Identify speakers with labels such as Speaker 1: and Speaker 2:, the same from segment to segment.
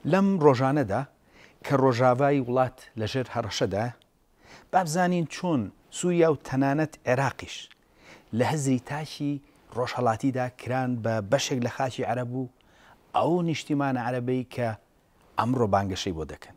Speaker 1: لەم ڕۆژانەدا کە ڕۆژاڤای وڵات لەژێر هەڕەشەدایە، با بزانین چۆن سووریا و تەنانەت عێراقیش لە هزری تاکی ڕۆژهەڵاتیدا کران بە بەشێک لە خاکی عەرەب و ئەو نیشتیمانە عەرەبەی کە ئەمڕۆ بانگەشەی بۆ دەکەن.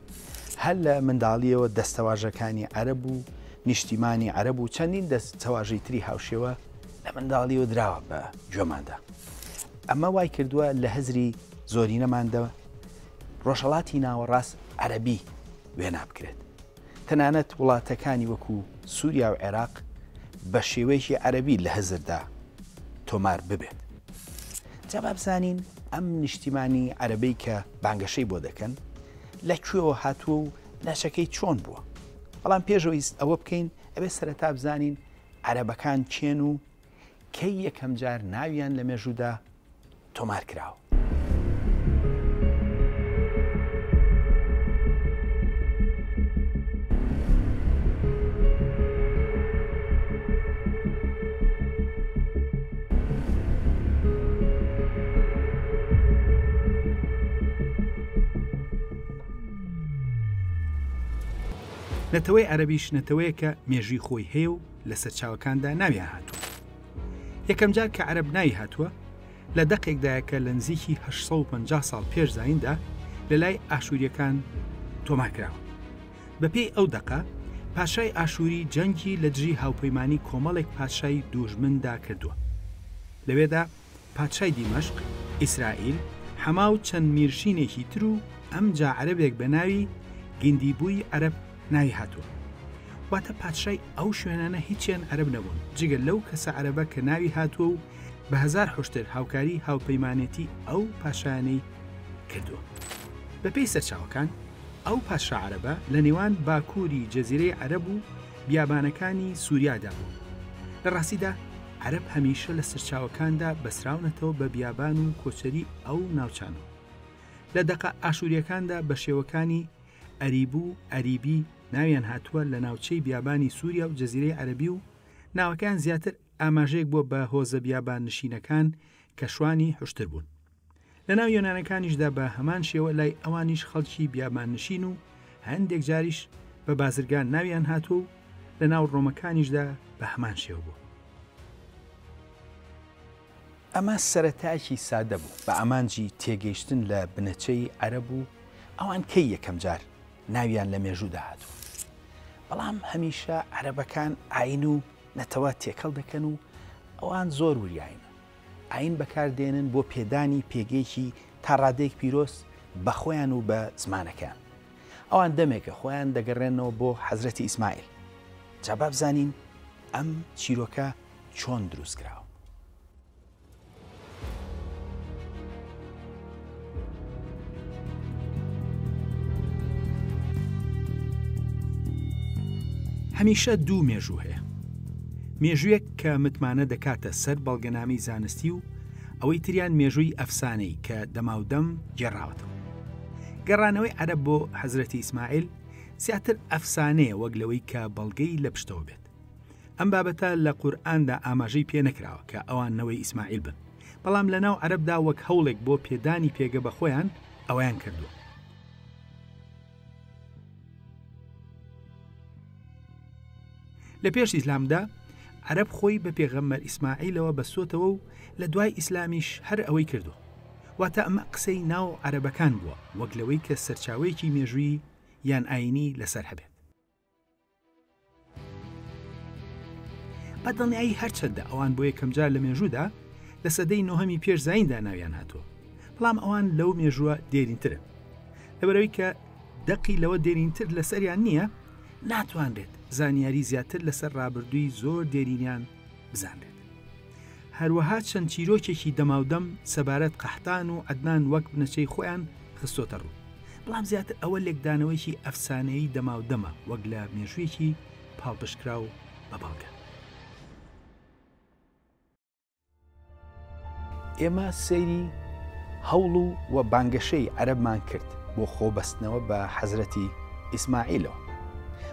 Speaker 1: هەر لە منداڵییەوە دەستەواژەکانی عەرەب و نیشتیمانی عەرەب و چەندین دەستەواژەی تری هاوشێوە لە منداڵییەوە دراوە بە گوێماندا. ئەمە وای کردووە لە هزری زۆرینەماندا ڕۆژهەڵاتی ناوەڕاست عەرەبی وێنا بکرێت. تەنانەت وڵاتەکانی وەکو سووریا و عێراق بە شێوەیەکی عەرەبی لە هزردا تۆمار ببێت. جا با بزانین ئەم نیشتیمانی عەرەبەی کە بانگەشەی بۆ دەکەن لە کوێوە هاتووە و ناچەکەی چۆن بووە بەڵام پێشەوەیست ئەوە بکەین ئەبێ سەرەتا بزانین عەرەبەکان چێن و کەی یەکەم جار ناویان لە مێژوودا تۆمار کراوە نەتەوەی عەربیش نەتەوەیەکە مێژوی خۆی هەیە و لە سەرچاوەکاندا ناویان هاتووە یەکەم جار کە عەرب ناوی هاتووە لە دەقێکدایەکە لە نزیکی 1950 ساڵ پێش زیندا لە لای ئاشووریەکان تۆمارکراوە بەپێی ئەو دەقە، پادشای ئاشووری جەنگی لە دژی هاوپەیمانی کۆمەڵێک پادشای دووژمندا کردووە. لەوێدا پادشای دیمەشق، ئیسرائیل، حەما و چەند میرشینێکی تر و ئەمجا عەرەبێک بە ناوی، گندیبوی عەرەب، ناوی هاتووە. واتە پادشای ئەو شوێنانە هیچیان عەرەب نەبوون، جگە لەو کەسە عەرەبە کە ناوی هاتووە و بە هەزار حوشتر هاوکاری هاوپەیمانێتی ئەو پاشایانەی کردووە. بەپێی سەرچاوەکان، ئەو پادشا عەرەبە لە نێوان باکووری جەزیرەی عەرەب و بیابانەکانی سووریادا بوو. لە ڕاستیدا عەرەب هەمیشە لە سەرچاوەکاندا بەسراونەتەوە بە بیابان و کۆچەری ئەو ناوچانە و لە دەقە ئاشوورییەکاندا بە شێوەکانی، ئەریبو، ئەریبی، ناویان هاتووە لە ناوچەی بیابانی سووریا و جەزیرەی عەرەبی و ناوەکەیان زیاتر ئاماژەیەک بووە بە هۆزە بیاباننشینەکان کە شوانی حوشتر بوون. لە ناو یۆنانەکانیشدا بە هەمان شێوە لای ئەوانیش خەڵکی بیابان نشین و هەندێک جاریش بە بازرگان ناویان هاتوو و لە ناو ڕۆمەکانیشدا بە هەمان شێوە بوو. ئەمە سەرەتایەکی سادە بوو بە ئامانجی تێگەیشتن لە بنەچەی عەرەب و ئەوان کەی یەکەم جار ناویان لە مێژوودا هاتوو. بەڵام هەمیشە عەرەبەکان ئاین و نەتەوە تێکەڵ دەکەن و ئەوان زۆر وریاین. ئایین بەکار دێنن بۆ پێدانی پێگەیەکی تا ڕادەیەک پیرۆز بە خۆیان و بە زمانەکەیان. ئەوان دەمێکە خۆیان دەگەڕێننەوە بۆ حەزرەتی ئیسماعیل. جا با بزانین ئەم چیرۆکە چۆن دروست کراوە. هەمیشە دوو مێژوو هەیە. مێژوویەک کە متمانە دەکاتە سەر بەڵگەنامەی زانستی و ئەوەی تریان مێژووی ئەفسانەی کە دەماودەم گێڕاوەتەوە. گەڕانەوەی عەرەب بۆ حەزرەتی ئیسماعیل زیاتر ئەفسانەیە وەک لەوەی کە بەڵگەی لە پشتەوە بێت. ئەم بابەتە لە قورئاندا ئاماژەی پێ نەکراوە کە ئەوان نەوەی ئیسماعیل بن بەڵام لە ناو عەربدا وەک هەوڵێک بۆ پێدانی پێگە بە خۆیان ئەویان کردووە لە پێش ئیسلامدا عەرب خۆی بە پێغەممەر ئیسماعیلەوە بەسۆتەوە و لە دوای ئیسلامیش هەر ئەوەی کردو واتە ئەمە قسەی ناو عەرەبەکان بووە وەک لەوەی کە سەرچاوەیەکی مێژووی یان ئاینی لەسەر هەبێت بەدڵنیایی هەرچەندە ئەوان بۆ یەکەمجار لە مێژوودا لە سەدەی نوهەمی پێش زیندا ناویان هاتووە بەڵام ئەوان لەو مێژووە دێرینترن لەبەرەوەی کە دەقی لەوە دێرینتر لەسەریان نییە ناتوانرێت زانیاری زیاتر لەسەر ڕابردووی زۆر دێرینیان بزانرێت. هەروەها چەند چیرۆکێکی دەماودەم سەبارەت قەحتان و عدنان وەک بنەچەی خۆیان خستۆتە ڕوو بەڵام زیاتر ئەوە لێکدانەوەیکی ئەفسانەیی دەماودەمە وەک لە مێژوویەکی پاڵپشکراو بە بەڵگە ئێمە سەیری هەوڵ و و بانگەشەی عەرەبمان کرد بۆ خۆبەستنەوە بە حەزرەتی ئیسماعیلەوە.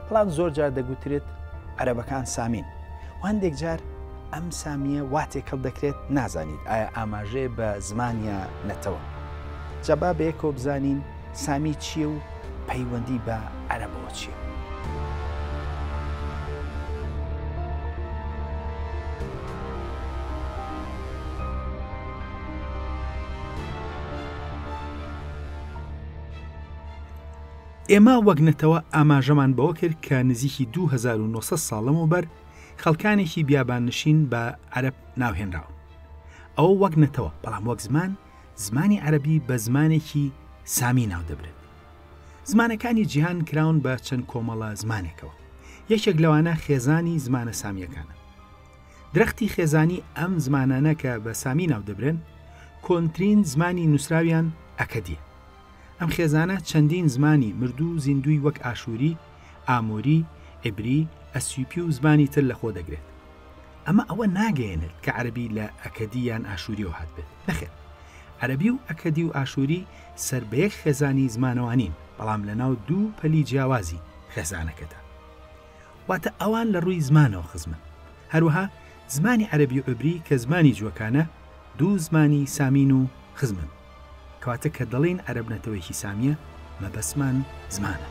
Speaker 1: بەڵام زۆر جار دەگوترێت عەرەبەکان سامین و هەندێک جار ئەم سامییە وا تێکەڵ دەکرێت نازانیت ئایا ئاماژەیە بە زمان یا نەتەوە. جا با بەیەکەوە بزانین سامی چییە و پەیوەندی بە عەرەبەوە چییە؟ ئێمە وەک نەتەوە ئاماژەمان بەوە کرد کە نزیکی 2900 ساڵ لەمەوبەر خەڵکانێکی بیاباننشین بە عەرب ناوهێنراون ئەوە وەک نەتەوە بەڵام وەک زمان زمانی عەرەبی بە زمانێکی سامی ناودەبرێت زمانەکانی جیهان کراون بە چەند کۆمەڵە زمانێکەوە یەکێک لەوانە خێزانی زمانە سامیەکانە درەختی خێزانی ئەم زمانانە کە بە سامی ناودەبرێن کۆنترین زمانی نووسراویان ئەکەدیە ئەم خێزانە چەندین زمانی مردوو زیندوی وەک ئاشووری عەرەبی، ئاموری، عیبری، ئەسیوپی و زمانی تر لەخۆ دەگرێت. ئەمە ئەوە ناگەیەنێت کە عەرەبی لە ئەکەدی یان ئاشوورییەوە هاتبێت، نەخێر. عەرەبی و ئەکەدی و ئاشووری سەر بە یەک خێزانی زمانەوە نین، بەڵام لەناو دوو پەلی جیاوازی خێزانەکەدا. واتە ئەوان لە ڕووی زمانەوە خزمن. هەروەها زمانی عەرەبی و عیبری کە زمانی جووەکانە، دوو زمانی سامین و خزمن. کەواتە کە دەڵێین عەرەب نەتەوەیەکی سامییە، مەبەستمان زمانە.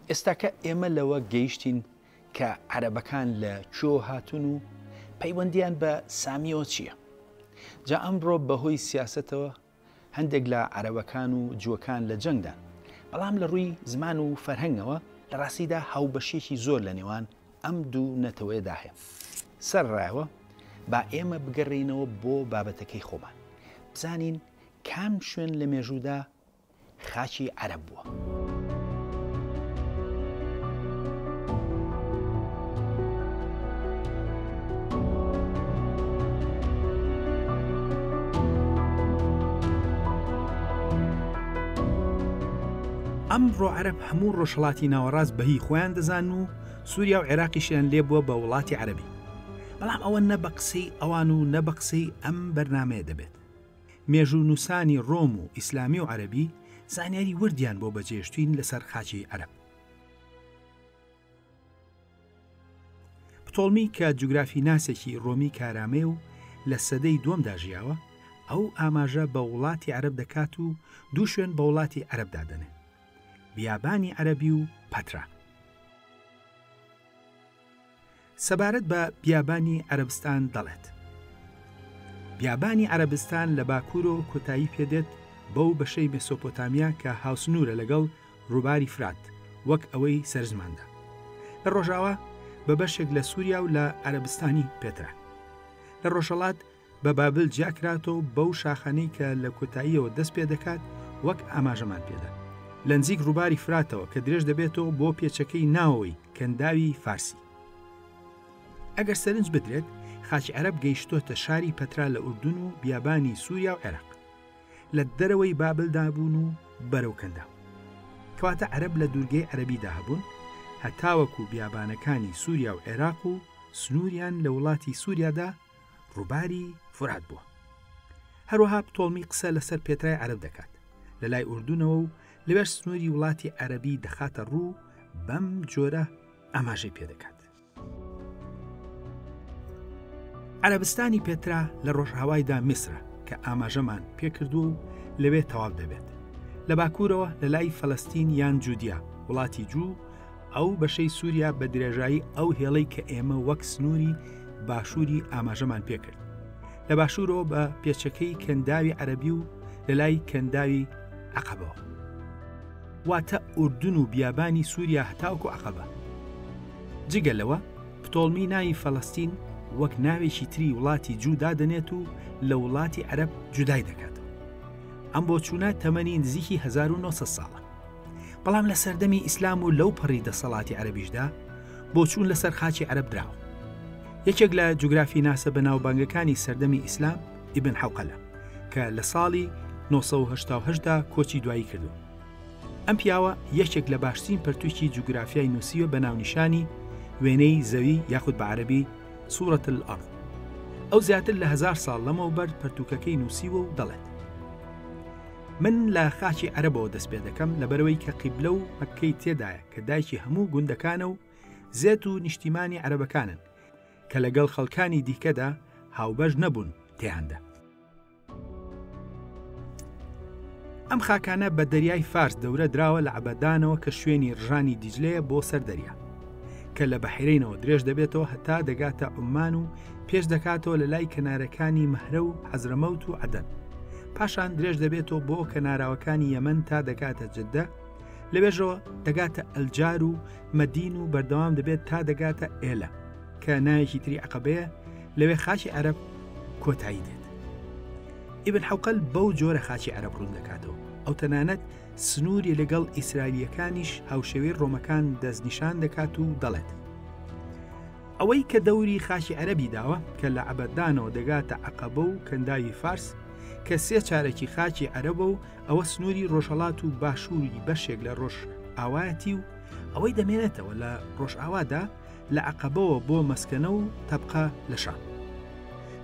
Speaker 1: ئێستا کە ئێمە لەوە گەیشتین کە عەرەبەکان لە کوێوە هاتوون و پەیوەندیان بە سامیەوە چییە؟ جا ئەمڕۆ بەهۆی سیاسەتەوە هەندێک لە عەرەبەکان و جووەکان لە جەنگدان، بەڵام لە ڕووی زمان و فەرهەنگەوە لە ڕاستیدا هاوبەشییەکی زۆر لە نێوان ئەم دوو نەتەوەیەدا هەیە. سەرەڕایەوە، با ئێمە بگەڕێینەوە بۆ بابەتەکەی خۆمان، بزانین کام شوێن لە مێژوودا خاکی عەرەب بووە. ئەمڕۆ عەرەب هەموو ڕۆژهڵاتی ناوەڕاست بە هی خۆیان دەزان و سووریا و عێراقیشیان لێ بووە بە وڵاتی عەرەبی بەڵام ئەوە نە بە قسەی ئەوان و نە بە قسەی ئەم بەرنمەیە دەبێت مێژوونووسانی ڕۆم و ئیسلامی و عەرەبی زانیاری وردیان بۆ بەجێشتوین لەسەر خاچی عەرەب. پتۆڵمی کە جوگرافی ناسێکی ڕۆمی کارامەیە و لە سەدەی دووەمدا ژیاوە، ئەو ئاماژە بە وڵاتی عەرەب دەکات و دوو شوێن بە وڵاتی عەرەب دادەنێ، بیابانی عەرەبی و پەترا. سەبارەت بە بیابانی عەرەبستان دەڵێت، بیابانی عەرەبستان لە باکوورەوە کۆتایی پێدێت بەو بەشەی مێسۆپۆتامیا کە هاوسنوورە لەگەڵ ڕووباری فرات وەک ئەوەی سەرزماندا لە ڕۆژاوا بە بەشێک لە سووریا و لە عەرەبستانی پێترا لە ڕۆژهەڵات، بە بابل جیاکراتەوە بەو شاخانەی کە لە کۆتاییەوە دەست پێ دەکات وەک ئاماژەمان پێدا لە نزیک ڕووباری فراتەوە کە درێژ دەبێتەوە بۆ پێچەکەی ناوەوەی کەنداوی فارسی ئەگەر سەرنج بدرێت خاچ عەرب گەیشتۆتە شاری پەترا لە ئوردون و بیابانی سووریا و عێراق لە دەرەوەی بابلدا بوون و بەرەو کەندا کەواتە عەرب لە دوورگەی عەربیدا هەبوون هەتاوەکو بیابانەکانی سووریا و عێراق و سنووریان لە وڵاتی سووریادا ڕووباری فرات بووە هەروەها پتۆڵمی قسە لەسەر پێترای عرب دەکات لە لای ئوردونەوە و لەوێش سنووری وڵاتی عەربی دەخاتە ڕوو بەم جۆرە ئاماژەی پێدەکات عربستانی پێترا لە ڕۆژهاوایدا میسرە کە ئاماژەمان پێکردووە و لەوێ تەواو دەبێت لە باکوورەوە لە لای فەلستین یان جودیا وڵاتی جوو ئەو بەشەی سووریا بە درێژایی ئەو هێڵەی کە ئێمە وەک سنووری باشووری ئاماژەمان پێکرد لە باشوورەوە بە پێچەکەی کەنداوی عەربی و لە لای کەنداوی عقبەوە واتە ئوردون و بیابانی سووریا هەتاوکو عقبە جگە لەوە پتۆڵمی ناوی فەلستین وەک ناوێکی تری وڵاتی جودا دەنێت و لە وڵاتی عەرب جودای دەکاتەوە ئەم بۆ چوونە تەمەنی نزیکی 1970 ساڵە بەڵام لە سەردەمی ئیسلام و لەو پەڕی دەسەڵاتی عەربیشدا بۆچوون لەسەر خاچی عەرب دراوە یەکێک لە جوگرافی ناسە بە ناوبانگەکانی سەردەمی ئیسلام ئیبن حوقەلە کە لە ساڵی 1970دا کۆچی دوایی کردو ئەم پیاوە یەکێک لە باشترین پرتوکی جوگرافیای نووسیوە بە ناونیشانی وێنەی زەوی یاخود بە عەربی سوورەت الأرض ئەو زیاتر لە هزار ساڵ لەمەوبەر پرتوکەکەی نووسیوە و دەڵێت من لە خاچی عەرەبەوە دەست پێ دەکەم لەبەرەوەی کە قیبلە و مەکەی تێدایە کە دایکی هەموو گوندەکانە و زێت و نیشتیمانی عەرەبەکانن کە لەگەڵ خەڵکانی دیکەدا هاوبەش نەبوون تێیاندا ئەم خاکانە بە دەریای فارس دەورە دراوە لە عبەدانەوە کە شوێنی ڕژانی دیجلەیە بۆ سەر دەریا کە لە بەحرینەوە درێژ دەبێتەوە هەتا دەگاتە عمان و پێش دەکاتەوە لە لای کەنارەکانی مەهرە و حەزرەمەوت و عدەن پاشان درێژ دەبێتەوە بۆ کەناراوەکانی یەمەن تا دەگاتە جددە لەوێژەوە دەگاتە ئەلجار و مەدین و بەردەوام دەبێت تا دەگاتە ئێلە کە نایەکی تری عقبەیە لەوێ خاچی عەرب کۆتایی دێت ئیبن حوقل بەو جۆرە خاچی عەرب ڕوون دەکاتەوە ئەو تەنانەت سنووری لەگەڵ ئیسرائیلەکانیش هاوشێوەی ڕۆمەکان دەستنیشان دەکات و دەڵێت ئەوەی کە دەوری خاکی عەرەبی داوە کە لە عەبەدانەوە دەگاتە عەقەبە و کەنداوی فارس کە سێ چارەکی خاکی عەرەبە و ئەوە سنووری ڕۆژهەڵات و باشووری بەشێک لە ڕۆژ ئاوایەتی و ئەوەی دەمێنێتەوە لە ڕۆژئاوادا لە عقبەوە بۆ مەسکەنە و تەبقە لە شام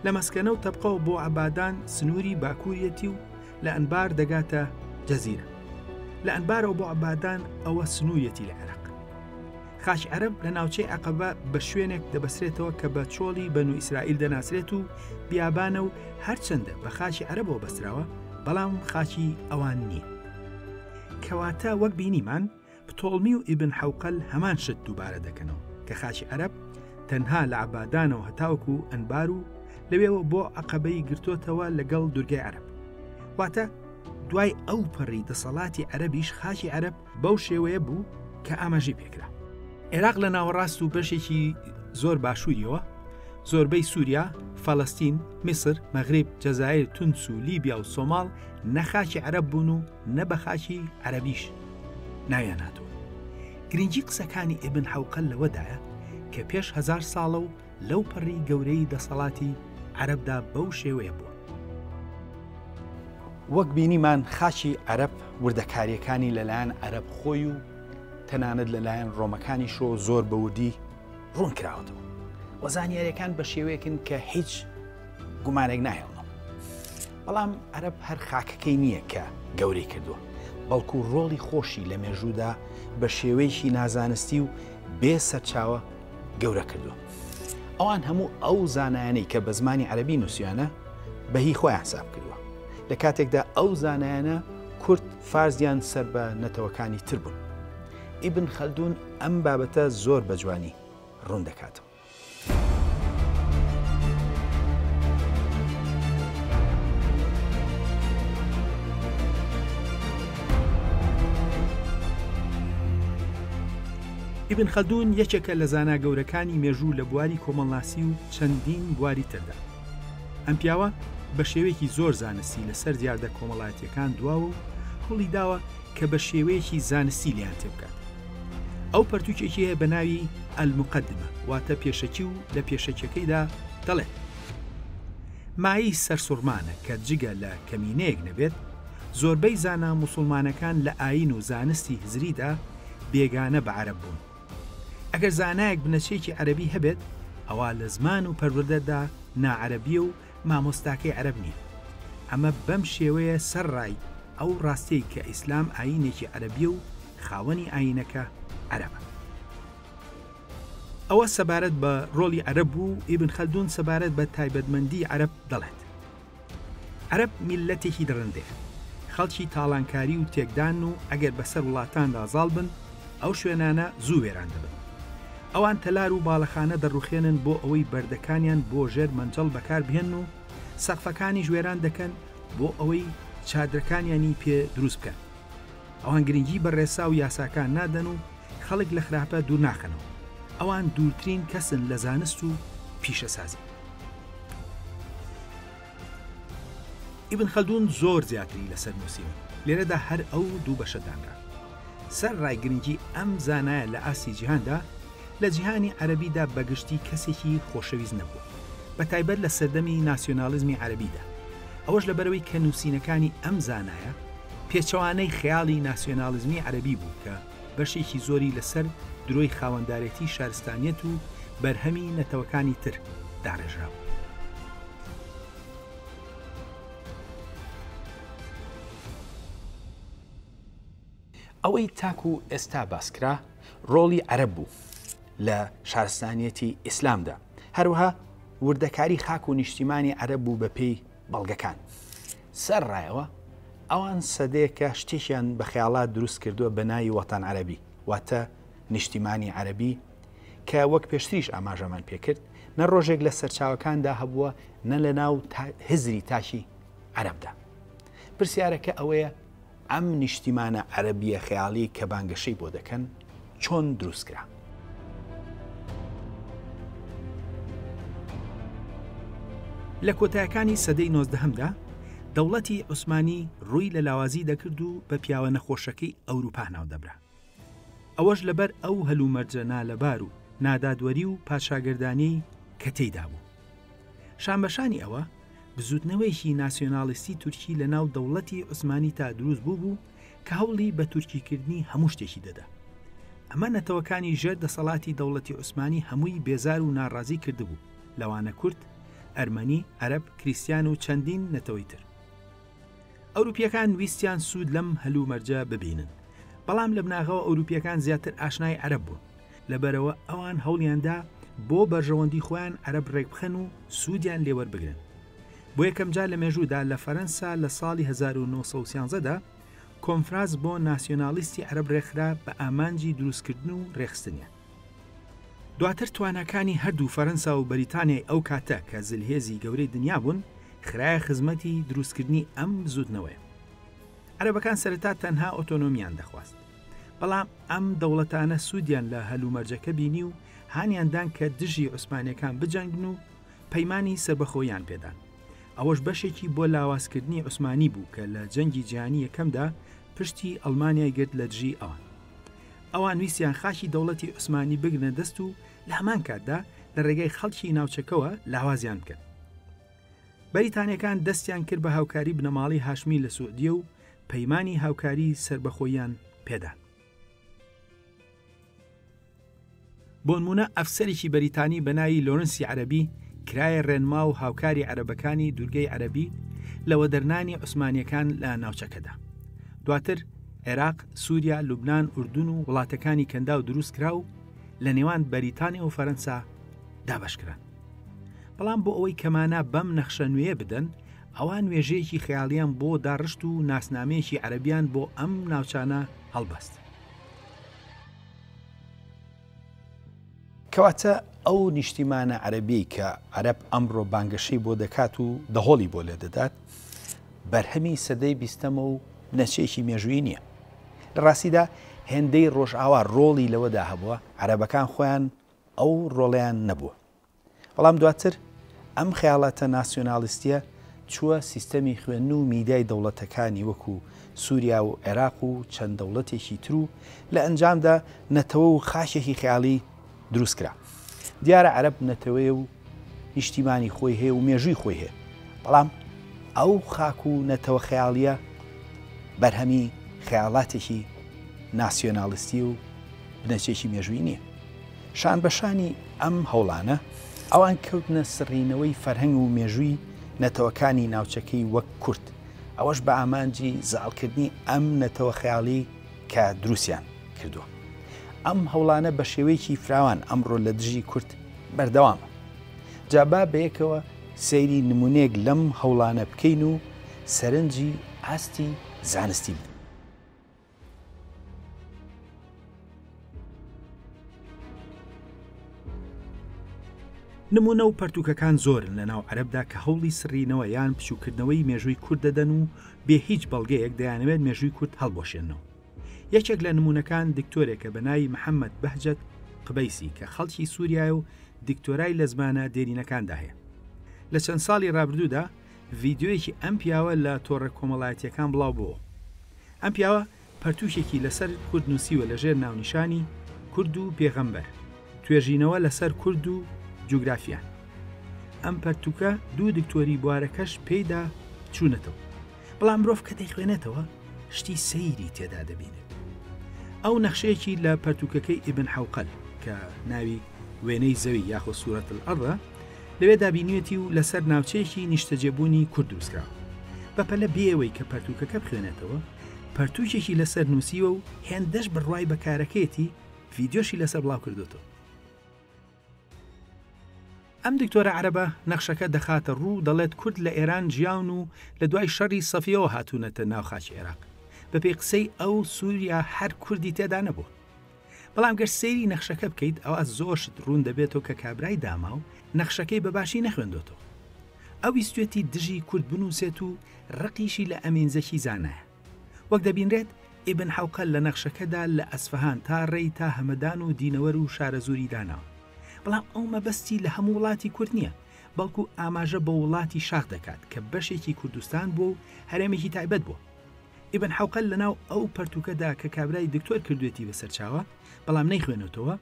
Speaker 1: لە مەسکەنە و تەبقەوە بۆ عبادان سنووری باکوورەتی و لە ئەنبار دەگاتە جەزیرە لە ئەنبارەوە بۆ عبادان ئەوە سنوورەتی لە عێراق خاچ عەرەب لە ناوچەی عقبە بە شوێنێک دەبەسرێتەوە کە بە چۆڵی بەنو ئیسرائیل دەناسرێت و بیابانە و هەرچەندە بە خاچی عەرەبەوە بەستراوە بەڵام خاچی ئەوان نییە کەواتە وەک بینیمان پتۆڵمی و ئیبن حوقل هەمان شت دووبارە دەکەنەوە کە خاچی عەرەب تەنها لە عبادانەوە هەتاوەکو و ئەنبار و لەوێەوە بۆ عقبەی گرتوتەوە لەگەڵ دورگای عەرب واتە دوای ئەو پەڕی دەسەڵاتی عەربیش خاچی عەرب بەو شێوەیە بوو کە ئاماژەی پێکرا. عێراق لە ناوەڕاست و بەشێکی زۆر باشووریەوە زۆربەی سووریا، فەلەستین، میسر، مەغریب، جەزایر، تونس و لیبیا و سۆماڵ نەخاکی عەرەب بوون و نە بە خاکی عەرەبیش ناویان هاتووە. گرنگی قسەکانی ئیبن حەوقە لەوەدایە کە پێش هەزار ساڵە و لەو پەڕی گەورەی دەسەڵاتی عەرەبدا بەو شێوەیە بووە. وەک بینیمان خاچی عەرەب وردەکاریەکانی لەلایەن عەرەب خۆی و تەنانەت لەلایەن ڕۆمەکانی شۆ زۆر بەوردی ڕوون کراوەتەوە و زانیاریەکان بە شێوەیەکن کە هیچ گومانێک ناهێڵنەوە بەڵام عەرەب هەر خاکەکەی نییە کە گەورەی کردووە بەڵکو ڕۆڵی خۆشی لە مێژوودا بە شێوەیەکی نازانستی و بێ سەرچاوە گەورە کردووە. ئەوان هەموو ئەو زانایانەی کە بە زمانی عەرەبی نووسیویانە بە هی خۆیان حساب کردووە، لە کاتێکدا ئەو زانایانە کورد، فارس یان سەر بە نەتەوەکانی تر بوون. ئیبن خەلدوون ئەم بابەتە زۆر بە جوانی ڕوون دەکاتەوە. ئیبن خەلدون یەکێکە لە زانا گەورەکانی مێژوو لە بواری کۆمەڵناسی و چەندین بواری تردا. ئەم پیاوە بە شێوەیەکی زۆر زانستی لەسەر دیاردە کۆمەڵایەتییەکان دواوە و هەوڵی داوە کە بە شێوەیەکی زانستی لێیان تێبگات. ئەو پەرتووکێکی هەیە بە ناوی، المقدمە، واتە پێشەکی و لە پێشەکییەکەیدا دەڵێت، مایەی سەرسوڕمانە کە جگە لە کەمینەیەک نەبێت، زۆربەی زانا موسوڵمانەکان لە ئایین و زانستی هزریدا، بێگانە بە عەرەب بوون. ئەگەر زانایەک بنەچەیەکی عەرەبی هەبێت، ئەوا لە زمان و پەروەردەدا ناعەرەبییە و مامۆستاکەی عەرەب نییە. ئەمە بەم شێوەیە سەرڕای ئەو ڕاستیەی کە ئیسلام ئایینێکی عەرەبییە و خاوەنی ئایینەکە عەرەبە. ئەوە سەبارەت بە ڕۆڵی عەرەب و ئیبن خەلدوون سەبارەت بە تایبەتمەندیی عەرەب دەڵێت. عەرەب میللەتێکی دڕندەیە، خەڵکی تاڵانکاری و تێکدان و ئەگەر بەسەر وڵاتاندا زاڵ بن، ئەو شوێنانە زوو وێران دەبن. ئەوان تەلار و باڵەخانە دەڕوخێنن بۆ ئەوەی بەردەکانیان بۆ ژێر مەنجەڵ بەکار بهێنن و سەقفەکانیش وێران دەکەن بۆ ئەوەی چادرەکانیانی پێ دروست بکەن. ئەوان گرنگی بە ڕێسا و یاساکان نادەن و خەڵک لە خراپە دوور ناخەنەوە. ئەوان دوورترین کەسن لە زانست و پیشەسازی. ئیبن خەلدوون زۆر زیاتری لەسەر نووسیوە، لێرەدا هەر ئەو دوو بەشە دانرا. سەر ڕای گرنگی ئەم زانایە لە ئاستی جیهاندا، لە جیهانی عەرەبیدا بە گشتی کەسێکی خۆشەویست نەبووە، بە تایبەت لە سەردەمی ناسیۆنالیزمی عەرەبیدا. ئەوەش لەبەرئەوەی کە نووسینەکانی ئەم زانایە پێچەوانەی خەیاڵی ناسیۆناڵیزمی عەرەبی بوو کە بەشێکی زۆری لەسەر درۆی خاوەندارێتی شارستانیەت و بەرهەمی نەتەوەکانی تر داڕێژرابوو. ئەوەی تاکو ئێستا باسکرا ڕۆڵی عەرەب بوو لە شارستانیەتی ئیسلامدا، هەروەها وردەکاری خاک و نیشتیمانی عەرەب بوو بەپێی، بەڵگەکان سەر ڕایەوە ئەوان سەدەیەکە شتێکیان بە خەیاڵات دروست کردووە بە ناوی وەتان عەربی واتە نیشتیمانی عەربی کە وەک پێشتریش ئاماژەمان پێکرد نە ڕۆژێک لە سەرچاوەکاندا هەبووە نە لە ناو هزری تاکی عەربدا پرسیارەکە ئەوەیە ئەم نیشتیمانە عەرەبییە خەیاڵیەی کە بانگەشەی بۆ دەکەن چۆن دروست کرا؟ لە کۆتایەکانی سەدەی نۆزدەهەمدا دەوڵەتی عوسمانی ڕووی لە لاوازی دەکرد و بە پیاوە نەخۆشەکەی ئەوروپا ناودەبرا. ئەوەش لەبەر ئەو هەلومەرجە نالەبار و نادادوەری و پادشاگەردانیەی کە تێیدا بوو. شانبەشانی ئەوە، بزوتنەوەیەکی ناسیۆنالیستی تورکی لە ناو دەوڵەتی عوسمانیتا دروست بووبوو کە هەوڵی بە تورکیکردنی هەموو شتێکی دەدا. ئەمە نەتەوەکانی ژێر دەسەڵاتی دەوڵەتی عوسمانی هەمووی بێزار و ناڕازی کردبوو، لەوانە کورد، ئەرمەنی، عەرەب، کریستیان و چەندین نەتەوەی تر. ئەوروپییەکان ویستیان سوود لەم هەلومەرجە ببینن، بەڵام لە بناغەوە ئەوروپییەکان زیاتر ئاشنای عەرەب بوون، لەبەرئەوە ئەوان هەوڵیاندا بۆ بەرژەوەندی خۆیان عەرەب ڕێکبخەن و سوودیان لێوەربگرن. بۆ یەکەمجار لە مێژوودا لە فەرەنسا لە ساڵی هەزار و نۆ سەد و سیانزە دا کۆنفراس بۆ ناسیۆنالیستی عەرەب ڕێکخرا بە ئامانجی دروستکردن و ڕێکخستنیان. دواتر تواناکانی هەردوو فەرەنسا و بەریتانیای ئەو کاتە کە زلهێزی گەورەی دنیا بوون خرایە خزمەتی دروستکردنی ئەم بزوتنەوەیە. عەرەبەکان سەرەتا تەنها ئۆتۆنۆمیان دەخواست. بەڵام ئەم دەوڵەتانە سوودیان لە هەلومەرجەکە بینی و هانیان دان کە دژی عوسمانیەکان بجەنگن و پەیمانی سەربەخۆییان پێدان. ئەوەش بەشێکی بۆ لاوازکردنی عوسمانی بوو کە لە جەنگی جیهانی یەکەمدا پشتی ئەڵمانیای گرت لە دژی ئەوان. ئەوان ویستیان خاکی دەوڵەتی عوسمانی بگرنە دەست و لە هەمان کاتدا لە ڕێگای خەڵکی ناوچەکەوە لاوازیان بکەن. بەریتانیەکان دەستیان کرد بە هاوکاری بنەماڵەی هاشمی لە سعودیە و پەیمانی هاوکاری سەربەخۆییان پێدان. بۆنموونە ئەفسەرێکی بەریتانی بەناوی لۆرنسی عەرەبی کرایە ڕێنما و هاوکاری عەرەبەکانی دوورگەی عەرەبی لە وەدەرنانی عوسمانیەکان لە ناوچەکەدا دواتر عێراق سووریا لوبنان ئوردون و وڵاتەکانی کەنداو دروستکرا و لە نێوان بەریتانیا و فەرەنسا دابەشکران بەڵام بۆ ئەوەی کەمانە بەم نەخشە نوێیە بدەن ئەوان نوێژەیەکی خەیاڵیان بۆ داڕشت و ناسنامەیەکی عەربیان بۆ ئەم ناوچانە هەڵبەست. کەواتە ئەو نیشتیمانە عەرەبیەی کە عەرەب ئەمڕۆ بانگەشەی بۆ دەکات و دەهۆڵی بۆ لێ دەدات بەرهەمی سەدەی بیستەمە و نەچێکی مێژووی نییە لە ڕاستیدا هێندەی ڕۆژئاوا ڕۆڵی لەوەدا هەبووە عەرەبەکان خۆیان ئەو ڕۆڵیان نەبووە بەڵام دواتر ئەم خەیاڵاتە ناسیۆنالیستیە چووە سیستەمی خوێندن و میدیای دەوڵەتەکانی وەکو سوریا و عێراق و چەند دەوڵەتێکی تر و لە ئەنجامدا نەتەوە و خاکێکی خەیاڵی دروست کرا. دیارە عەرەب نەتەوەیە و نیشتیمانی خۆی هەیە و مێژووی خۆی هەیە، بەڵام ئەو خاک و نەتەوە خەیاڵیە بەرهەمی خەیاڵاتێکی ناسیۆنالیستی و بنەچەیەکی مێژوویی نیە. شانبەشانی ئەم هەوڵانە، ئەوان کەوتنە سڕینەوەی فەرهەنگ و مێژووی نەتەوەکانی ناوچەکەی وەک کورد، ئەوەش بە ئامانجی زاڵکردنی ئەم نەتەوە خەیاڵی کە دروستیان کردووە. ئەم هەوڵانە بە شێوەیەکی فراوان ئەمڕۆ لە دژی کورد بەردەوامە. جا با بەیەکەوە سەیری نموونەیەک لەم هەوڵانە بکەین و سەرنجی ئاستی زانستی بدەین. نموونە و پەرتووکەکان زۆرن لە ناو عەرەبدا کە هەوڵی سڕینەوە یان بچووکردنەوەی مێژووی کورد دەدەن و بێ هیچ بەڵگەیەک دەیانەوێت مێژووی کورد هەڵبوەشێنەوە یەکێک لە نموونەکان دکتۆرێکە بە ناوی محەممەد بەهجەت قبەیسی کە خەڵکی سووریای و دکتۆرای لە زمانە دێرینەکاندا هەیە لە چەند ساڵی رابردوودا ڤیدیۆیەکی ئەم پیاوە لە تۆڕە کۆمەڵایەتییەکان بڵاو بۆوە. ئەم پیاوە پەرتووکێکی لەسەر کورد نووسیوە لەژێر ناونیشانی، کورد و پێغەمبەر، توێژینەوە لەسەر کورد و جوگرافیا. ئەم پەرتووکە دوو دکتۆری بوارەکەش پێیدا چوونەتەوە. بەڵام مرۆڤ کە دەیخوێنێتەوە شتی سەیری تێدا دەبینێت. ئەو نەخشەیەکی لە پەرتووکەکەی ئیبن حەوقەل کە ناوی، وێنەی زەوی یاخۆ سورەت الارض، ە، لەوێدا بینیوێتی و لەسەر ناوچەیەکی نیشتەجێبوونی کورد دروستکراوە بەپەلە بێ ئەوەی کە پەرتووکەکە بخوێنێتەوە پەرتووکێکی لەسەر نووسیوە و هێندەش بڕوای بە کارەکەیەتی ڤیدیۆشی لەسەر بڵاو کردوتەوە ئەم دکتۆرە عەرەبە نەخشەکە دەخاتە ڕوو دەڵێت کورد لە ئێران جیاون و لە دوای شەڕی سەفیەوە هاتوونەتە ناو خاچی عێراق بەپێی قسەی ئەو سووریا هەر کوردی تێدا نەبووە بەڵام گەر سەیری نەخشەکە بکەیت ئەوا زۆر شت ڕوون دەبێتەوە کە کابرای داماو نەخشەکەی بە باشی نەخوێندۆتەوە ئەو ویستێتی دژی کورد بنووسێت و ڕقیشی لە ئەمین زەکی زانایە وەک دەبینرێت ئیبن حوقە لە نەخشەکەدا لە ئەسفەهان تا ڕێی تا هەمەدان و دینەوەر و شارەزووری داناوە بەڵام ئەو مەبەستی لە هەموو وڵاتی کورد نییە بەڵکو ئاماژە بە وڵاتی شاخ دەکات کە بەشێکی کوردستان بووە و هەرێمێکی تایبەت بووە ئیبن حەوقەل لەناو ئەو پەرتووکەدا کە کابرای دکتۆر کردوویەتی بە سەرچاوە، بەڵام نەیخوێنێتەوە،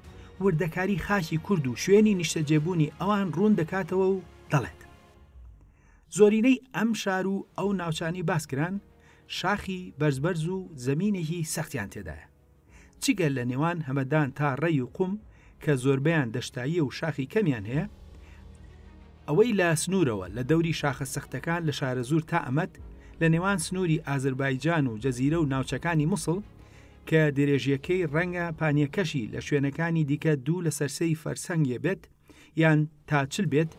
Speaker 1: وردەکاری خاکی کورد و شوێنی نیشتەجێبوونی ئەوان ڕوون دەکاتەوە و دەڵێت، زۆرینەی ئەم شار و ئەو ناوچانەی باس کران، شاخی بەرزبەرز و زەمینێکی سەختیان تێدایە. جگە لە نێوان هەمەدان تا ڕێی و قوم کە زۆربیان دەشتاییە و شاخی کەمیان هەیە ئەوەی لە سنوورەوە لە دەوری شاخە سەختەکان لە شارە زور تا ئەمەد لە نێوان سنووری ئازربایجان و جەزیرە و ناوچەکانی مووسڵ کە درێژیەکەی ڕەنگە پانیەکەشی لە شوێنەکانی دیکە دوو لە سەرسەی فەرسەنگێ بێت یان تا چل بێت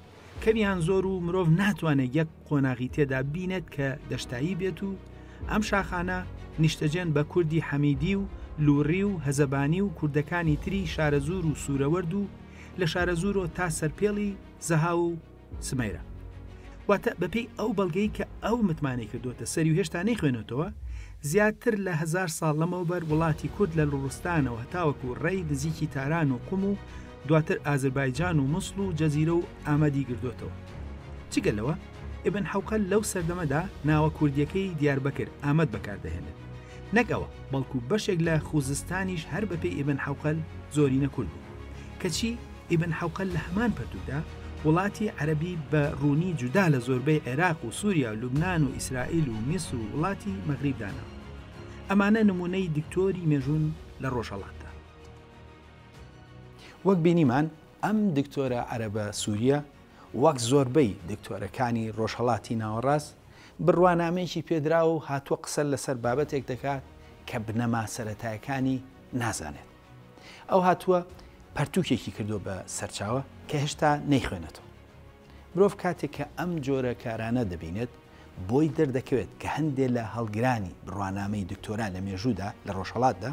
Speaker 1: کەمیان زۆر و مرۆڤ ناتوانێت یەک قۆناغی تێدا بینێت کە دەشتایی بێت و ئەم شاخانە نیشتەجێن بە کوردی حەمیدی و لوڕی و هەزەبانی و کوردەکانی تری شارەزور و سوورەوەرد و لە شارەزورۆ تا سەرپێڵی زەها و سمەیرە واتە بەپێی ئەو بەڵگەی کە ئەو متمانەی کردوتە سەری و هێشتا نەیخوێنێتەوە زیاتر لە هزار ساڵ لەمەوبەر وڵاتی کورد لە لوڕستانەوە هەتاوەکو ڕێی نزیکی تاران و قوم و دواتر ئازربایجان و موسڵ و جەزیرە و ئامەدی گردۆتەوە. جگە لەوە، ئیبن حەوقەل لەو سەردەمەدا ناوە کوردییەکەی دیاربەکر، ئامەد بەکار دەهێنێت. نەک ئەوە، بەڵکو بەشێک لە خووزستانیش هەر بەپێی ئیبن حەوقەل زۆرینە کورد بوون. کەچی ئیبن حەوقەل لە هەمان پەرتووکدا وڵاتی عەرەبی بە ڕوونی جودا لە زۆربەی عێراق و سووریا و لوبنان و ئیسرائیل و میسر و وڵاتی مەغریب داناوە. ئەمانە نموونەی دکتۆری مێژوون لە ڕۆژهەڵاتدا. وەک بینیمان ئەم دکتۆرە عەرەبە سووریە وەک زۆربەی دکتۆرەکانی ڕۆژهەڵاتی ناوەڕاست بڕوانامەیەکی پێدراوە و هاتووە قسە لەسەر بابەتێک دەکات کە بنەما سەتایەکانی نازانێت ئەو هاتووە پەرتوکێکی کردو بە سەرچاوە کە هێشتا نەیخوێنێتەوە مرۆڤ کاتێک کە ئەم جۆرە کارانە دەبینێت بۆی دەردەکەوێت کە هەندێک لە هەڵگرانی بڕوانامەی دکتۆرا لە مێژوودا لە ڕۆژهڵاتدا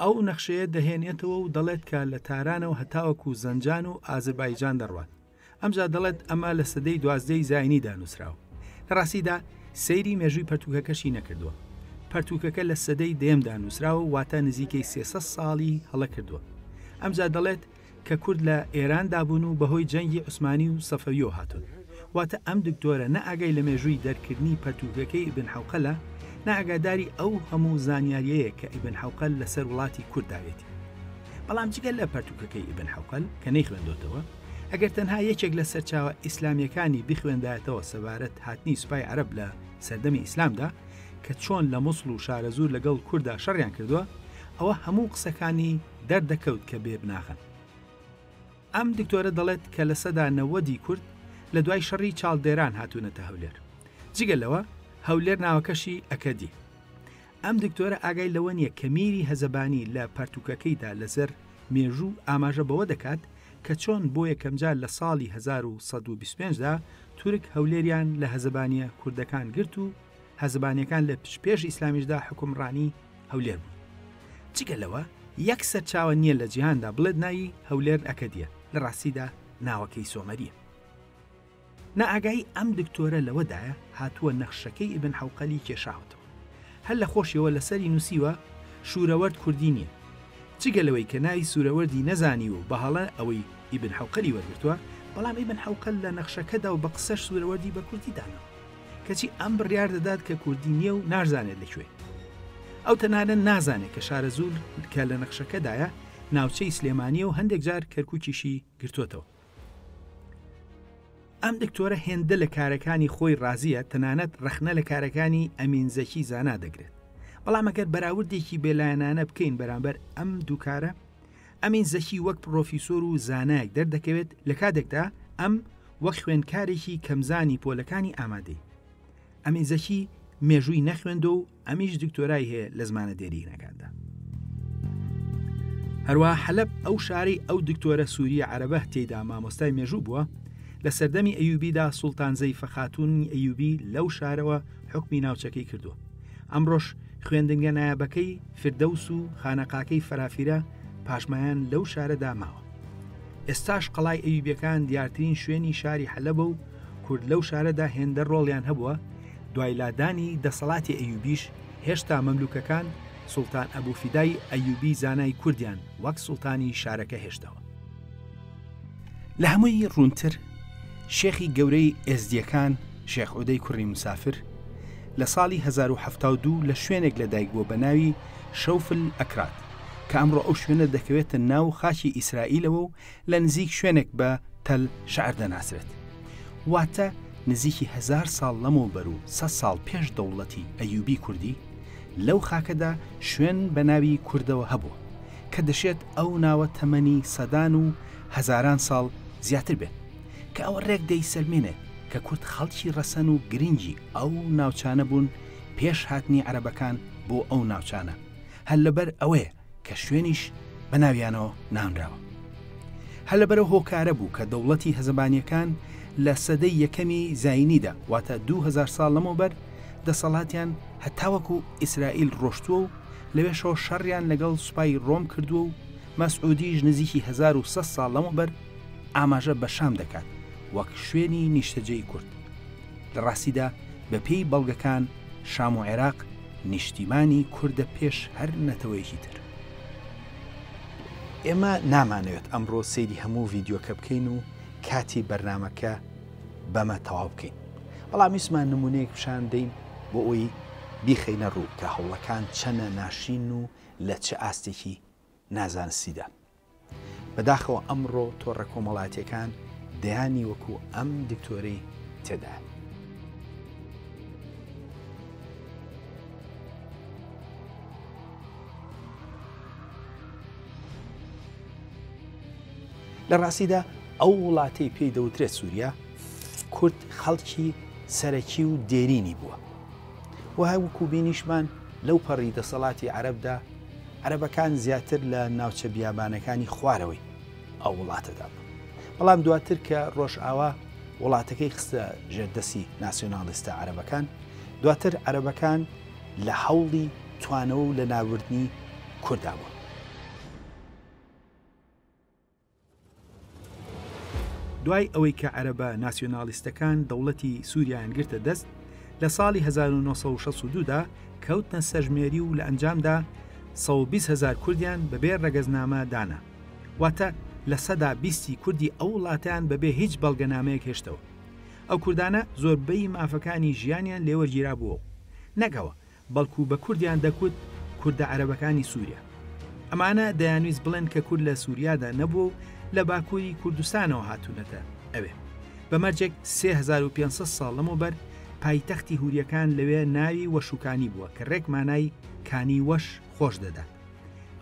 Speaker 1: ئەو نەخشەیە دەهێنێتەوە و دەڵێت کە لە تارانەوە هەتاوەکو زەنجان و ئازربایجان دەڕوات ئەمجا دەڵێت ئەمە لە سەدەی دوازدەی زایینی دانووسراوە لە ڕاستیدا سەیری مێژووی پەرتوکەکەشی نەکردووە پەرتوکەکە لە سەدەی دەیەمدا نووسراوە واتە نزیکەی سێسەد ساڵی هەڵە کردووە ئەمجا دەڵێت کە کورد لە ئێران دابوون و بەهۆی جەنگی عوسمانی و سەفەویەوە هاتوون واتە ئەم دکتۆرە نە ئاگای لە مێژووی دەرکردنی پەرتووکەکەی ئیبن حەوقەلە نە ئاگاداری ئەو هەموو زانیاریەیە کە ئیبن حەوقەل لەسەر وڵاتی کورد داوێتی بەڵام جگە لە پەرتووکەکەی ئیبن حەوقەل کە نەیخوێندۆتەوە ئەگەر تەنها یەکێک لە سەرچاوە ئیسلامیەکانی بخوێندایەتەوە سەبارەت هاتنی سوپای عەرەب لە سەردەمی ئیسلامدا کە چۆن لە موسڵ و شارەزوور لەگەڵ کوردا شەڕیان کردووە ئەوە هەموو قسەکانی دەردەکەوت کە بێ بناغەن. ئەم دکتۆرە دەڵێت کە لە سەدا نەوەدی کورد لە دوای شەڕی چاڵدێران هاتوونەتە هەولێر. جگە لەوە هەولێر ناوەکەشی ئەکەدی. ئەم دکتۆرە ئاگای لەوە نییە کە میری هەزەبانی لە پەرتوکەکەیدا لەزەر مێژوو ئاماژە بەوە دەکات کە چۆن بۆ یەکەمجار لە ساڵی 1125 دا تورک هەولێریان لە هەزەبانیە کوردەکان گرت و هەزبانیەکان لە پچ پێش ئیسلامیشدا حوکمڕانی هەولێر بوون جگە لەوە یەک سەرچاوە نییە لە جیهاندا بڵێت ناوی هەولێر ئەکەدیە لە ڕاستیدا ناوەکەی سۆمەریە نائاگایی ئەم دکتۆرە لەوەدایە هاتووە نەخشەکەی ئیبن حەوقەلی کێشاوەتەوە هەر لە خۆشیەوە لەسەری نووسیوە شوورەوەرد کوردی نییە جگە لەوەی کە ناوی سوورەوەردی نەزانی و بەهەڵە ئەوەی ئیبن حەوقەلی وەرگرتووە بەڵام ئیبن حەوقەل لە نەخشەکەدا و بە قسەش سوورەوەردی بە کوردی داناوە کەچی ئەم بڕیار دەدات کە کوردی نییە و نازانێت لە کوێ ئەو تەنانە نازانێت کە شارەزوور کە لە نەخشەکەدایە ناوچەی سلێمانیە و هەندێک جار کەرکوکیشی گرتوتەوە ئەم دکتۆرە هێندە لە کارەکانی خۆی ڕازیە تەنانەت ڕەخنە لە کارەکانی ئەمین زەکی زانا دەگرێت بەڵام ئەگەر بەراوردێکی بێلایەنانە بکەین بەرامبەر ئەم دووکارە ئەمین زەکی وەک پڕۆفیسۆر و زانایەک دەردەکەوێت لە کاتێکدا ئەم وەک خوێندکارێکی کەمزانی پۆلەکانی ئامادەی. ئەمین زەکی مێژووی نەخوێندوە و ئەمیش دکتۆرای هەیە لە زمانە دێرینەکاندا. هەروە حەلەب ئەو شارەی ئەو دکتۆرە سووریە عەرەبە تێدا مامۆستای مێژوو بووە، لە سەردەمی ئەیوبیدا سوڵتان زەیفە خاتوونی ئەیوبی لەو شارەوە حکمی ناوچەکەی کردووە. ئەمڕۆش خوێندنگە نایابەکەی، فردەوس و خانەقاکەی فەرافیرە پاشمایان لەو شارەدا ماوە. ئێستاش قەڵای ئەیوبیەکان دیارترین شوێنی شاری حەلەبە و کورد لەو شارەدا هێندە ڕۆڵیان هەبووە، دوای لادانی دەسەڵاتی ئەیوبیش هێشتا مەملوکەکان سوڵتان ئەبو فیدای ئەیوبی زانای کوردیان وەک سوڵتانی شارەکە هێشتەوە. لە هەمووی ڕوونتر شێخی گەورەی ئێزدییەکان شێخ عودەی کوڕی مسافر لە ساڵی 1970 لە شوێنێک لە دایک بووە بە ناوی شەوفل ئەکراد کە ئەمڕۆ ئەو شوێنە دەکەوێتە ناو خاکی ئیسرائیلەوە و لە نزیک شوێنێک بە تەل شعر دەناسرێت واتە نزیکی هزار ساڵ لەمەوە بەر و سە ساڵ پێش دەوڵەتی ئەیوبی کوردی لەو خاکەدا شوێن بە ناوی کوردەوە هەبوو کە دەشێت ئەو ناوە تەمەنی سەدان و هەزاران ساڵ زیاتر بێت، کە ئەوە رێک دەیسەلمێنێت کە کورد خەڵکی رەسەن و گرنگی ئەو ناوچانە بوون پێش هاتنی عەرەبەکان بۆ ئەو ناوچانە، هەر لەبەر ئەوەیە کە شوێنیش بە ناویانەوە نانراوە. هەر لەبەر ئەو هۆکارە بوو کە دەوڵەتی هەزەبانییەکان لە سەدەی یەکەمی زایینیدا، واتە دوو هەزار ساڵ لەمەوبەر، دەسەڵاتیان هەتاوەکو ئیسرائیل رۆشتووە و، لەوێشەوە شەڕیان لەگەڵ سوپای ڕۆم کردووە و مەسعودیش نزیکی 1900 ساڵ لەمەوبەر ئاماژە بە شام دەکات وەک شوێنی نیشتەجێی کورد لە ڕاستیدا بە پێی بەڵگەکان شام و عێراق نیشتیمانی کوردە پێش هەر نەتەوەیەکی تر. ئێمە نامانەوێت ئەمڕۆ سەیری هەموو ڤیدیۆکە بکەین و کاتی بەرنامەکە بەمە تەواو بکەین بەڵام ویسمان نمونەیەک پیشان دەین بۆ ئەوی بیخەینە ڕوو کە هەوڵەکان چەنە ناشرین و لە چ ئاستێکی نازانستیدا بەداخەوە ئەمڕۆ تۆڕە کۆمەڵاتیەکان دەیانی وەکو ئەم دکتۆرەی تێدا لە ڕاستیدا ئەو وڵاتەی پێی دەوترێت سووریا، کورد خەڵکی سەرەکی و دێرینی بووە. وەها وەکو بینیشمان لەو پەڕی دەسەڵاتی عەرەبدا، عەرەبەکان زیاتر لە ناوچە بیابانەکانی خوارەوەی ئەو وڵاتەدا بوون. بەڵام دواتر کە ڕۆژئاوا وڵاتەکەی خستە ژێر دەستی ناسیۆناڵیستە عەرەبەکان، دواتر عەرەبەکان لە هەوڵی توانەوە و لەناوبردنی کوردا بوون. دوای ئەوەی کە عەرەبە ناسیۆنالیستەکان دەوڵەتی سووریایان گرتە دەست لە ساڵی 1962دا کەوتنە سەژمێری و لە ئەنجامدا 120 هزار کوردیان بەبێ ڕەگەزنامە دانا واتە لە سەدا بیستی کوردی ئەو وڵاتیان بەبێ هیچ بەڵگەنامەیەک هێشتەوە ئەو کوردانە زۆربەی مافەکانی ژیانیان لێوەرگیرا بووە نەگەوە بەڵکو بە کوردیان دەکوت کوردە عەرەبەکانی سوریا ئەمانە دەیانویست بڵێن کە کورد لە سوریادا نەبووە و لە باکووری کوردستانەوە هاتوونەتە ئەوێ بە مەرجێک 3500 ساڵ لەمەوبەر پایتەختی هوریەکان لەوێ ناوی وەشوکانی بووە کە ڕێک مانای کانی وەش خۆش دەدات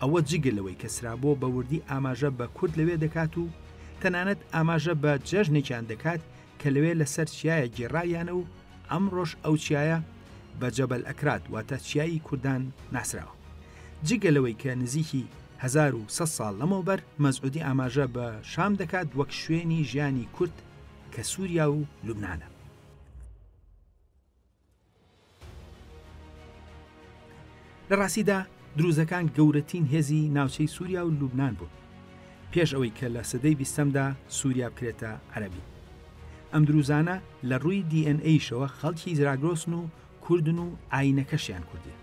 Speaker 1: ئەوە جگە لەوەی کە سرابۆ بە وردی ئاماژە بە کورد لەوێ دەکات و تەنانەت ئاماژە بە جەژنێکیان دەکات کە لەوێ لەسەر چیایە گێڕاویانە و ئەمڕۆش ئەو چیایە بە جەبەل ئەکراد واتە چیایی کوردان ناسراوە جگە لەوەی کە نزیکی 1900 ساڵ لەمەوبەر مەزعودی ئاماژە بە شام دەکات وەک شوێنی ژیانی کورد کە سووریا و لوبناە لە ڕاستیدا دروزەکان گەورەتین هێزی ناوچەی سوریا و لوبنان بوون پێش ئەوەی کە لە سەدەی بیستەمدا سوریا بکرێتە عەرەبی ئەم دروزانە لە ڕووی دی ئێن ئەیشەوە خەڵکی زراگرۆسن و کوردن و ئاینەکەشیان کوردیە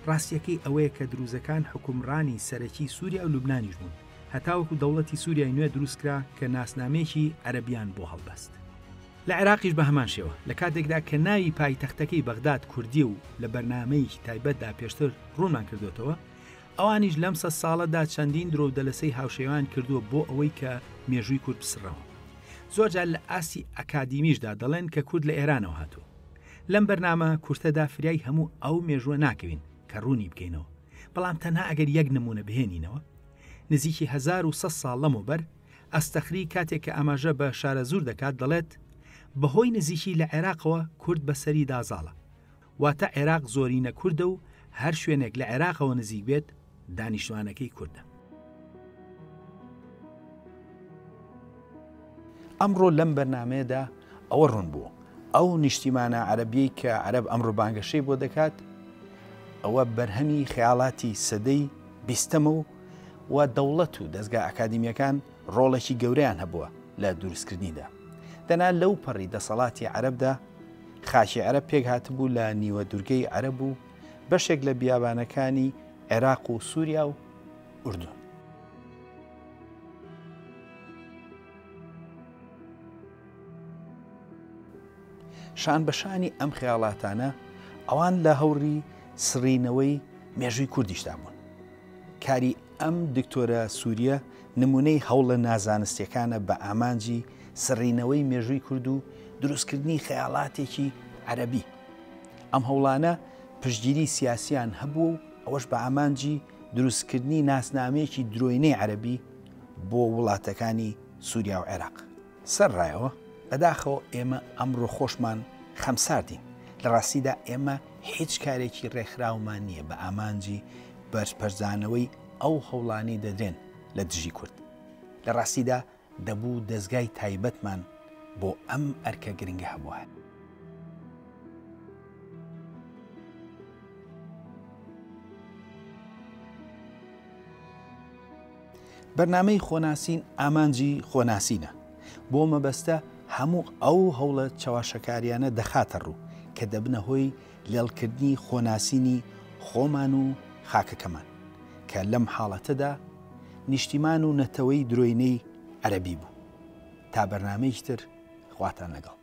Speaker 1: ڕاستیەکەی ئەوەیە کە دروزەکان حوکمڕانی سەرەکی سوریا و لوبنانیش بوون هەتاوەکو دەوڵەتی سوریای نوێ دروستکرا کە ناسنامەیەکی عەرەبیان بۆ هەڵبەست. لە عێراقیش بە هەمان شێوە، لە کاتێکدا کە ناوی پایتەختەکەی بەغداد کوردییە و لە بەرنامەیەکی تایبەتدا پێشتر ڕوونمان کردۆتەوە، ئەوانیش لەم سەد ساڵەدا چەندین درۆ و دەلەسەی هاوشێوەیان کردووە بۆ ئەوەی کە مێژووی کورد بسڕنەوە. زۆرجار لە ئاستی ئەکادیمیشدا دەڵێن کە کورد لە ئێرانەوە هاتووە. لەم بەرنامە کورتەدا فریای هەموو ئەو مێژووە ناکەوین کە ڕوونی بکەینەوە، بەڵام تەنها ئەگەر یەک نموونە بهێنینەوە، نزیکی هەزار و سەد ساڵ لەمەوبەر، ئەستەخری کاتێک کە ئاماژە بە شارەزوور دەکات دەڵێت، بەهۆی نزیکی لە عێراقەوە کورد بەسەریدا زاڵە، واتە عێراق زۆرینە کوردە و هەر شوێنێک لە عێراقەوە نزیک بێت دانیشتوانەکەی کوردە. ئەمڕۆ لەم بەرنامەیەدا ئەوە ڕوون بوو ئەو نیشتیمانە عەرەبیەی کە عەرەب ئەمڕۆ بانگەشەی بۆ دەکات ئەوە بەرهەمی خەیاڵاتی سەدەی بیستەمە و و دەوڵەت و دەزگا ئەکادیمیەکان ڕۆڵێکی گەورەیان هەبووە لە دروستکردنیدا. دەنا لەو پەڕی دەسەڵاتی عەرەبدا خاکی عەرەب پێکهاتبوو لە نیوە دورگەی عەرەب و بەشێک لە بیابانەکانی عێراق و سوریا و ئوردون. شان بە شانی ئەم خەیاڵاتانە ئەوان لە هەوڕی سڕینەوەی مێژووی کوردیشدا بوون. کاری ئەم دکتۆرە سوریە نمونەی هەوڵە نازانستیەکانە بە ئامانجی سڕینەوەی مێژووی کورد و دروستکردنی خەیاڵاتێکی عەرەبی. ئەم هەوڵانە پشتگیری سیاسیان هەبووە و ئەوەش بە ئامانجی دروستکردنی ناسنامەیەکی درۆینەی عەرەبی بۆ وڵاتەکانی سوریا و عێراق. سەر ڕایەوە، بەداخەوە ئێمە ئەمڕۆ خۆشمان خەمساردین، لە ڕاستیدا ئێمە هیچ کارێکی ڕێکخراومان نییە بە ئامانجی بەرپەرچدانەوەی ئەو هەوڵانەی دەدرێن لە دژی کورد، لە ڕاستیدا دەبوو دەزگای تایبەتمان بۆ ئەم ئەرکە گرنگە هەبوایە. بەرنامەی خۆناسین ئامانجی خۆناسینە بۆ مەبەستە هەموو ئەو هەوڵە چەواشەکاریانە دەخاتە ڕوو کە دەبنە هۆی لێڵکردنی خۆناسینی خۆمان و خاکەکەمان کە لەم حاڵەتەدا نیشتیمان و نەتەوەی درۆینەی عەرەبی بوو تا بەرنامەیشتر خواتان لەگەڵ.